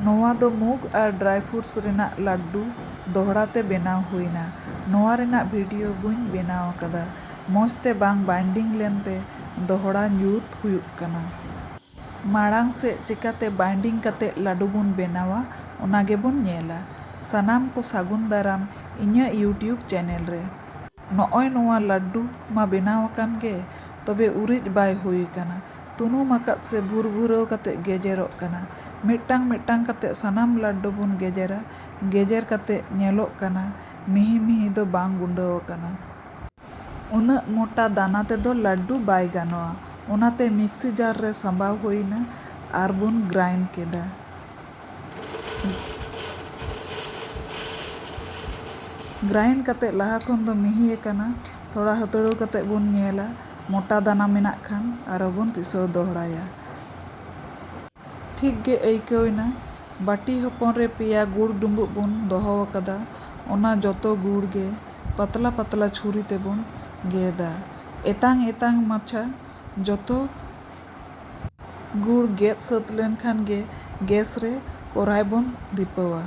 ᱱᱚᱣᱟ ᱫᱚ ᱢᱩᱜᱽ ᱟᱨ ᱰᱨᱟᱭ ᱯᱷᱨᱩᱴᱥ ᱨᱮᱱᱟᱜ ᱞᱟᱰᱰᱩ ᱫᱚᱦᱲᱟ ᱛᱮ ᱵᱮᱱᱟᱣ ᱦᱩᱭᱱᱟ᱾ ᱱᱚᱣᱟ ᱨᱮᱱᱟᱜ ᱵᱷᱤᱰᱤᱭᱳ ᱵᱟᱹᱧ ᱵᱮᱱᱟᱣ ᱟᱠᱟᱫᱟ᱾ ᱢᱚᱡᱽ ᱛᱮ ᱵᱟᱝ ᱵᱟᱭᱱᱰᱤᱝ ᱞᱮᱱ ᱛᱮ ᱫᱚᱦᱲᱟ ᱡᱩᱛ ᱦᱩᱭᱩᱜ ᱠᱟᱱᱟ᱾ ᱢᱟᱬᱟᱝ ᱥᱮᱫ ᱪᱮᱠᱟᱛᱮ ᱵᱟᱭᱱᱰᱤᱝ ᱠᱟᱛᱮ ᱞᱟᱰᱰᱩ ᱵᱚᱱ ᱵᱮᱱᱟᱣᱟ ᱚᱱᱟ ᱜᱮ ᱵᱚᱱ ᱧᱮᱞᱟ᱾ ᱥᱟᱱᱟᱢ ᱠᱚ ᱥᱟᱹᱜᱩᱱ ᱫᱟᱨᱟᱢ ᱤᱧᱟᱹᱜ ᱭᱩᱴᱭᱩᱵᱽ ᱪᱮᱱᱮᱞ ᱨᱮ᱾ ᱱᱚᱜᱼᱚᱭ ᱱᱚᱣᱟ ᱞᱟᱰᱰᱩ ᱢᱟ ᱵᱮᱱᱟᱣ ᱟᱠᱟᱱ ᱜᱮ, ᱛᱚᱵᱮ ᱩᱨᱤᱡ ᱵᱟᱭ ᱦᱩᱭ ᱟᱠᱟᱱᱟ᱾ ᱛᱩᱱᱩᱢ ᱟᱠᱟᱫ ᱥᱮ ᱵᱷᱩᱨᱵᱷᱩᱨᱟᱹᱣ ᱠᱟᱛᱮ ᱜᱮᱡᱮᱨᱚᱜ ᱠᱟᱱᱟ᱾ ᱢᱤᱫᱴᱟᱝ ᱢᱤᱫᱴᱟᱝ ᱠᱟᱛᱮ ᱥᱟᱱᱟᱢ ᱞᱟᱰᱰᱩ ᱵᱚᱱ ᱜᱮᱡᱮᱨᱟ᱾ ᱜᱮᱡᱮᱨ ᱠᱟᱛᱮ ᱧᱮᱞᱚᱜ ᱠᱟᱱᱟ ᱢᱤᱦᱤ ᱢᱤᱦᱤ ᱫᱚ ᱵᱟᱝ ᱜᱩᱸᱰᱟᱹᱣ ᱟᱠᱟᱱᱟ᱾ ᱩᱱᱟᱹᱜ ᱢᱚᱴᱟ ᱫᱟᱱᱟ ᱛᱮᱫᱚ ᱞᱟᱰᱰᱩ ᱵᱟᱭ ᱜᱟᱱᱚᱜᱼᱟ᱾ ᱚᱱᱟᱛᱮ ᱢᱤᱠᱥᱤ ᱡᱟᱨ ᱨᱮ ᱥᱟᱸᱵᱟᱣ ᱦᱩᱭ ᱮᱱᱟ ᱟᱨ ᱵᱚᱱ ᱜᱨᱟᱭᱤᱱᱰ ᱠᱮᱫᱟ᱾ ᱜᱨᱟᱭᱤᱱᱰ ᱠᱟᱛᱮᱫ ᱞᱟᱦᱟ ᱠᱷᱚᱱ ᱫᱚ ᱢᱤᱦᱤ ᱟᱠᱟᱱᱟ ᱛᱷᱚᱲᱟ ᱦᱟᱹᱛᱲᱟᱹᱣ ᱠᱟᱛᱮᱫ ᱵᱚᱱ ᱧᱮᱞᱟ ᱢᱚᱴᱟ ᱫᱟᱱᱟ ᱢᱮᱱᱟᱜ ᱠᱷᱟᱱ ᱟᱨᱚ ᱵᱚᱱ ᱯᱤᱥᱟᱹᱣ ᱫᱚᱦᱲᱟᱭᱟ᱾ ᱴᱷᱤᱠ ᱜᱮ ᱟᱹᱭᱠᱟᱹᱣ ᱮᱱᱟ᱾ ᱵᱟᱹᱴᱤ ᱦᱚᱯᱚᱱ ᱨᱮ ᱯᱮᱭᱟ ᱜᱩᱲ ᱰᱩᱸᱵᱩᱜ ᱵᱚᱱ ᱫᱚᱦᱚ ᱟᱠᱟᱫᱟ᱾ ᱚᱱᱟ ᱡᱚᱛᱚ ᱜᱩᱲ ᱜᱮ ᱯᱟᱛᱞᱟ ᱯᱟᱛᱞᱟ ᱪᱷᱩᱨᱤ ᱛᱮᱵᱚᱱ ᱜᱮᱫᱟ᱾ ᱮᱛᱟᱝ ᱮᱛᱟᱝ ᱢᱟᱪᱷᱟ ᱡᱚᱛᱚ᱾ ᱜᱩᱲ ᱜᱮᱫ ᱥᱟᱹᱛ ᱞᱮᱱ ᱠᱷᱟᱱ ᱜᱮ ᱜᱮᱥ ᱨᱮ ᱠᱚᱨᱟᱭ ᱵᱚᱱ ᱫᱷᱤᱯᱟᱹᱣᱟ᱾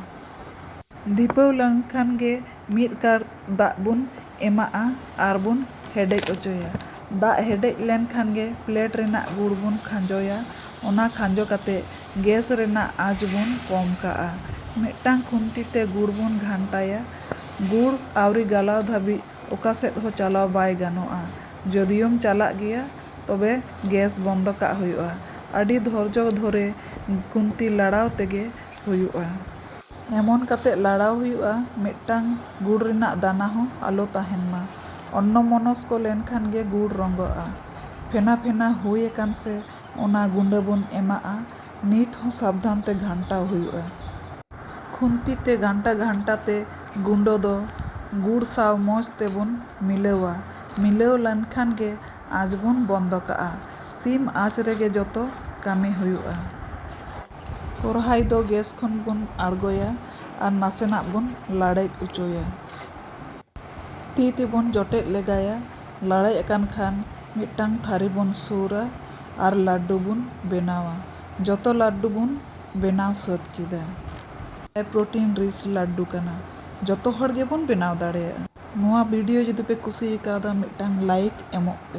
ᱫᱷᱤᱯᱟᱹᱣ ᱞᱮᱱ ᱠᱷᱟᱱ ᱜᱮ ᱢᱤᱫ ᱠᱟᱬ ᱫᱟᱜ ᱵᱚᱱ ᱮᱢᱟᱜᱼᱟ ᱟᱨ ᱵᱚᱱ ᱦᱮᱰᱮᱡ ᱚᱪᱚᱭᱟ᱾ ᱫᱟᱜ ᱦᱮᱰᱮᱡ ᱞᱮᱱ ᱠᱷᱟᱱ ᱜᱮ ᱯᱞᱮᱴ ᱨᱮᱱᱟᱜ ᱜᱩᱲ ᱵᱚᱱ ᱠᱷᱟᱸᱡᱚᱭᱟ᱾ ᱚᱱᱟ ᱠᱷᱟᱸᱡᱚ ᱠᱟᱛᱮ ᱜᱮᱥ ᱨᱮᱱᱟᱜ ᱟᱸᱪ ᱵᱚᱱ ᱠᱚᱢ ᱠᱟᱜᱼᱟ᱾ ᱢᱤᱫᱴᱟᱹᱝ ᱠᱷᱩᱱᱴᱤ ᱛᱮ ᱜᱩᱲ ᱵᱚᱱ ᱜᱷᱟᱱᱴᱟᱭᱟ᱾ ᱜᱩᱲ ᱟᱹᱣᱨᱤ ᱜᱟᱞᱟᱣ ᱫᱷᱟᱹᱵᱤᱡ᱾ ᱚᱠᱟ ᱥᱮᱫ ᱦᱚᱸ ᱪᱟᱞᱟᱣ ᱵᱟᱭ ᱜᱟᱱᱚᱜᱼᱟ᱾ ᱡᱚᱫᱤᱭᱳᱢ ᱪᱟᱞᱟᱜ ᱜᱮᱭᱟ ᱛᱚᱵᱮ ᱜᱮᱥ ᱵᱚᱱᱫᱚ ᱠᱟᱜ ᱦᱩᱭᱩᱜᱼᱟ᱾ ᱟᱹᱰᱤ ᱫᱷᱚᱨᱡᱚ ᱫᱷᱚᱨᱮ ᱠᱷᱩᱱᱛᱤ ᱞᱟᱲᱟᱣ ᱛᱮᱜᱮ ᱦᱩᱭᱩᱜᱼᱟ᱾ ᱮᱢᱚᱱ ᱠᱟᱛᱮ ᱞᱟᱲᱟᱣ ᱦᱩᱭᱩᱜᱼᱟ ᱢᱤᱫᱴᱟᱝ ᱜᱩᱲ ᱨᱮᱱᱟᱜ ᱫᱟᱱᱟ ᱦᱚᱸ ᱟᱞᱚ ᱛᱟᱦᱮᱱ ᱢᱟ᱾ ᱚᱱᱱᱚᱢᱚᱱᱚᱥᱠᱚ ᱞᱮᱱᱠᱷᱟᱱ ᱜᱮ ᱜᱩᱲ ᱨᱚᱸᱜᱚᱜᱼᱟ᱾ ᱯᱷᱮᱱᱟ ᱯᱷᱮᱱᱟ ᱦᱩᱭ ᱟᱠᱟᱱ ᱥᱮ ᱚᱱᱟ ᱜᱩᱸᱰᱟᱹ ᱵᱚᱱ ᱮᱢᱟᱜᱼᱟ᱾ ᱱᱤᱛ ᱦᱚᱸ ᱥᱟᱵᱫᱷᱟᱱ ᱛᱮ ᱜᱷᱟᱱᱴᱟᱣ ᱦᱩᱭᱩᱜᱼᱟ᱾ ᱠᱷᱩᱱᱛᱤ ᱛᱮ ᱜᱷᱟᱱᱴᱟ ᱜᱷᱟᱱᱴᱟ ᱛᱮ ᱜᱩᱸᱰᱟᱹ ᱫᱚ ᱜᱩᱲ ᱥᱟᱶ ᱢᱚᱡᱽ ᱛᱮ ᱵᱚᱱ ᱢᱤᱞᱟᱹᱣᱟ᱾ ᱢᱤᱞᱟᱹᱣ ᱞᱮᱱ ᱠᱷᱟᱱ ᱜᱮ ᱟᱸᱪ ᱵᱚᱱ ᱵᱚᱱᱫᱚ ᱠᱟᱜᱼᱟ᱾ ᱥᱤᱢ ᱟᱸᱪ ᱨᱮᱜᱮ ᱡᱚᱛᱚ ᱠᱟᱹᱢᱤ ᱦᱩᱭᱩᱜᱼᱟ᱾ ᱠᱚᱨᱦᱟᱭ ᱫᱚ ᱜᱮᱥ ᱠᱷᱚᱱ ᱵᱚᱱ ᱟᱬᱜᱚᱭᱟ ᱟᱨ ᱱᱟᱥᱮᱱᱟᱜ ᱵᱚᱱ ᱞᱟᱲᱮᱡ ᱚᱪᱚᱭᱟ᱾ ᱛᱤ ᱛᱮᱵᱚᱱ ᱡᱚᱴᱮᱫ ᱞᱮᱜᱟᱭᱟ᱾ ᱞᱟᱲᱮᱡ ᱟᱠᱟᱱ ᱠᱷᱟᱱ ᱢᱤᱫᱴᱟᱝ ᱛᱷᱟᱹᱨᱤ ᱵᱚᱱ ᱥᱩᱨᱟ ᱟᱨ ᱞᱟᱹᱰᱰᱩ ᱵᱚᱱ ᱵᱮᱱᱟᱣᱟ᱾ ᱡᱚᱛᱚ ᱞᱟᱹᱰᱰᱩ ᱵᱚᱱ ᱵᱮᱱᱟᱣ ᱥᱟᱹᱛ ᱠᱮᱫᱟ᱾ ᱦᱟᱭ ᱯᱨᱚᱴᱤᱱ ᱨᱤᱪ ᱞᱟᱹᱰᱰᱩ ᱠᱟᱱᱟ᱾ ᱡᱚᱛᱚ ᱦᱚᱲ ᱜᱮ ᱵᱚᱱ ᱵᱮᱱᱟᱣ ᱫᱟᱲᱮᱭᱟᱜᱼᱟ᱾ ᱱᱚᱣᱟ ᱵᱷᱤᱰᱤᱭᱳ ᱡᱩᱫᱤ ᱯᱮ ᱠᱩᱥᱤ ᱟᱠᱟᱣᱫᱟ ᱢᱤᱫᱴᱟᱝ ᱞᱟᱭᱤᱠ ᱮᱢᱚᱜ ᱯᱮ᱾